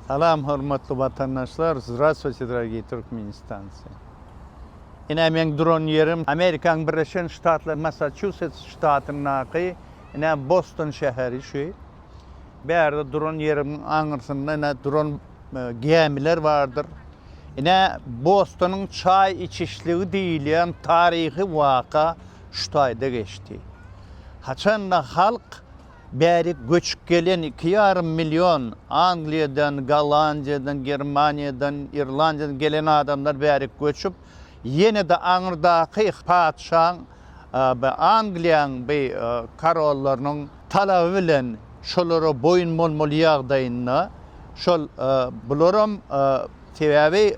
Salam hormatly watandaşlar Zdravstvuyte dragiý Türkmenistancy Ine meň duran ýerim Amerikaň Birleşen Ştatlar Massaçusets ştatyndaky ine Boston şäheri şu bärde duran ýerimiň aňyrsynda ine duran gämiler bardyr ine Bostonyň çaý içişligi diýilýän taryhy waka şu taýda geçdi haçanda halk Bärik göçüp gelen iki ýarym million Angliýadan, Gollandiýadan, Germaniýadan, Irlandiýadan gelen adamlar bärik göçüp, ýene-de aňyrdaky patyşaň, Angliýanyň bi korollarynyň talaby bilen şolara boýun bolmaly ýagdaýynda, şol bularam sebäbi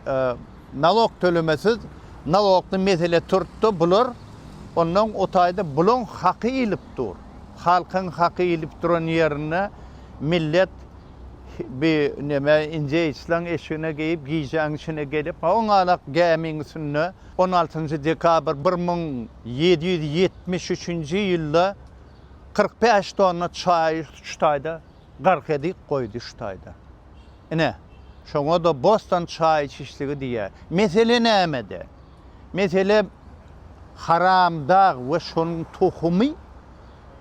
nalog tölemesiz nalogly mesele turupdy, bular ondan o taýda bulaň haky iýlip dur. Halkyň haky ilip duran ýerinde millet bi neme inje islaň eşigine geýip gijäň içine gelip ha oňalak gämiň üstünde on altynjy dekabr bir müň ýedi ýüz ýetmiş üçünji ýylda kyrk bäş tonna çaýy şu taýda gark edik goýdy şu taýda. Ine, şoňa-da bostan çaýçyşligi diýýär. Mesele nämede? Meselem, Haramdag we şonuň tohumy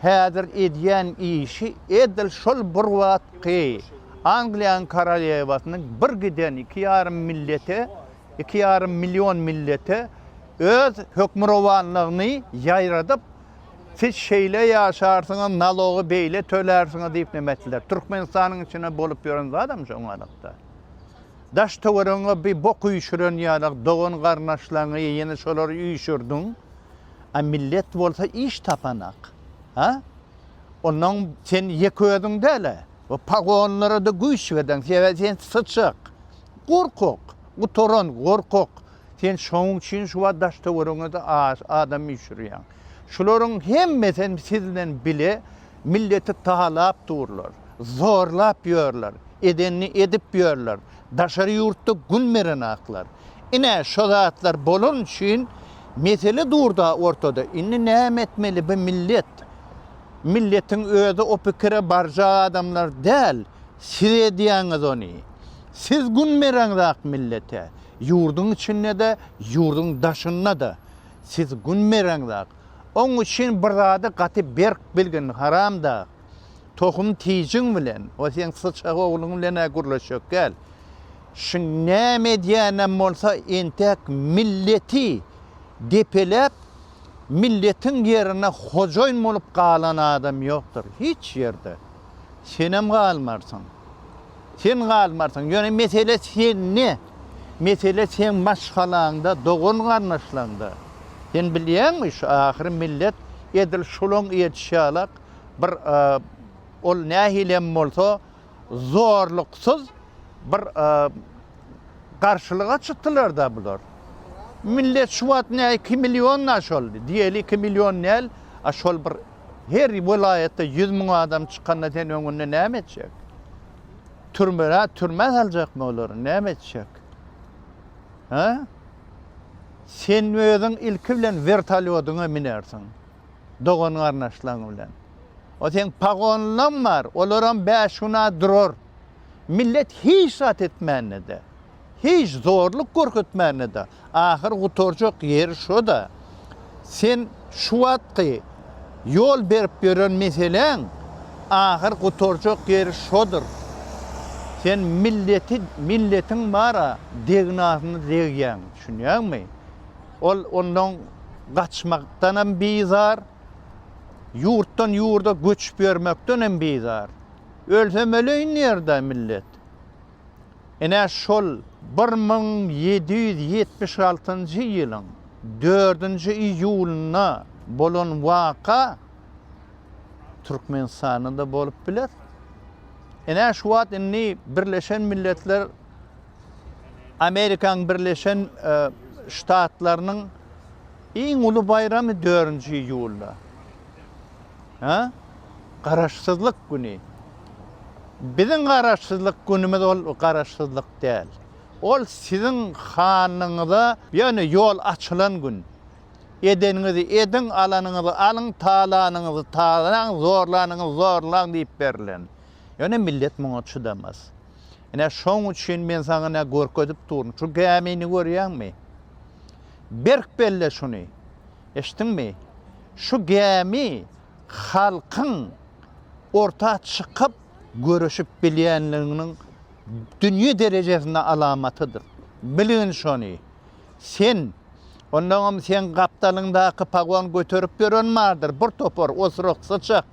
häzir edýän işi edil şol bir wagtky Angliýanyň korolýewasynyň bir giden iki ýarym millete, iki ýarym million millete öz hökmürowanlygyny ýaýradyp, siz şeýle ýaşarsyňyz, nalogy beýle tölärsiňiz diýip näme etdiler. Türkmenistanyň içinde bolup ýören zadam şo adatda. Daş-töweregiňe bir bok üýşüren ýaly dogan-garyndaşlaryňy ýene şolary üýşürdiň. A millet bolsa iş tapanak. Ha? Onnoň sen ýeke özüň däl-ä. Bu pagonlara-da güýç berdiň. Sebäbi sen syçak. Gorkak. Gutaran, gorkak. Sen şonuň üçin şu wagt daş-töweregiňe-de adam üýşürýäň. Şularyň hemmesem siz bilen bile milleti talap durlar, zorlap ýörler, edenini edip ýörler, daşary ýurtda gün berenaklar. Ine, şo zatlar bolan üçin mesele durda ortada. Indi näme etmeli bu millet? Milletiň özi o pikire barjak adamlar däl. Siz edýäňiz ony. Siz gün bereňzak millete. Ýurduň içinde-de, ýurduň daşynda-da. Siz gün bereňzak. Oň üçin bir zady gaty berk bilgin, haramdag. Tohum tijiň bilen we seň syçak ogluň bilen-ä gürleşjek däl. Şi näme edýänem bolsa, entek milleti depeläp, milletiň ýerine hojaýyn bolup galan adam ýokdur, hiç ýerde. Senem galmarsyň. Sen galmarsyň. Ýöne mesele sende. Mesele seň maşgalaňda, dogan-garyndaşlaňda. Sen bilýäňmi, şu ahyry millet edil şulaň ýetişýälak bir ol nähili hem bolsa zorluksyz bir garşylyga çykdylar-da bular. Millet şu wagt näme iki million-da şol, diýeli iki million däl, a şol bir Her welaýatda ýüz müň adam çykanda sen öňünde näme etjek? Türmä, türmä saljakmy olary? Näme etjek? Hä? Sen özüň ilki bilen wertolýodyňa minersiň. Dogan garnaşlaň bilen. O sen pagonlaň bar, olaram bäş güna durar. Millet hiç zat etmände-de. Hiç zorluk görkezmänede, ahyr gutarjak ýeri şo-da. Sen şu wagtky ýol berip ýören meseläň ahyr gutarjak ýeri şodur. Sen milleti, milletiň bar-a, degnasyna degýäň, düşünýäňmi? Ol ondan gaçmakdan hem bizar, ýurtdan ýurda göçüp ýörmekden hem bizar. Ölsem öleýin ýer-dä, millet. Ine, şol bir müň ýedi ýüz ýetmiş altynjy ýylyň dördünji iýulynda bolan waka Türkmenistanda-da bolup biler. Ine, şu wagt indi Birleşen Milletler Amerikanyň Birleşen Ştatlarynyň iň uly baýramy dördünji iýulda. Hä? Garaşsyzlyk güni. Biziň Garaşsyzlyk günümiz ol Garaşsyzlyk däl. Ol siziň hanyňyza, ýöne ýol açylan gün. Edeniňizi ediň, alanyňyzy alyň, talanyňyzy talaň, zorlanyňyzy zorlaň diýip berlen. Ýöne millet muňa çydamaz. Ine şoň üçin men saňa ine görkezip durun. Şu gämini görýäňmi? Berk belle şuny. Eşitdiňmi? Şu gämi halkyň orta çykyp göreşip bilýänliginiň dünýe derejesinde alamatydyr. Bilgin şony. Sen, onnoňam seň gapdalyňdaky pagon göterip ýören bardyr, bir topar osuryk, syçak.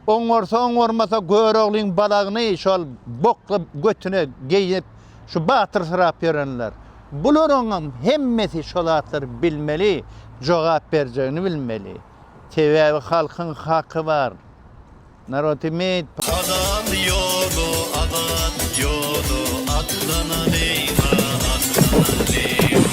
Oňarsa-oňarmasa Göroglyň balagyny şol bokly götüne geýnip Şu batyrsyrap ýörenler. Bularyňam hemmesi şo zatlary bilmeli, jogap berjegini bilmeli. Sebäbi halkyň haky bar. Narod imeýt. Azat ýoly azat ýoly atlanalýyňa atlanalýyň.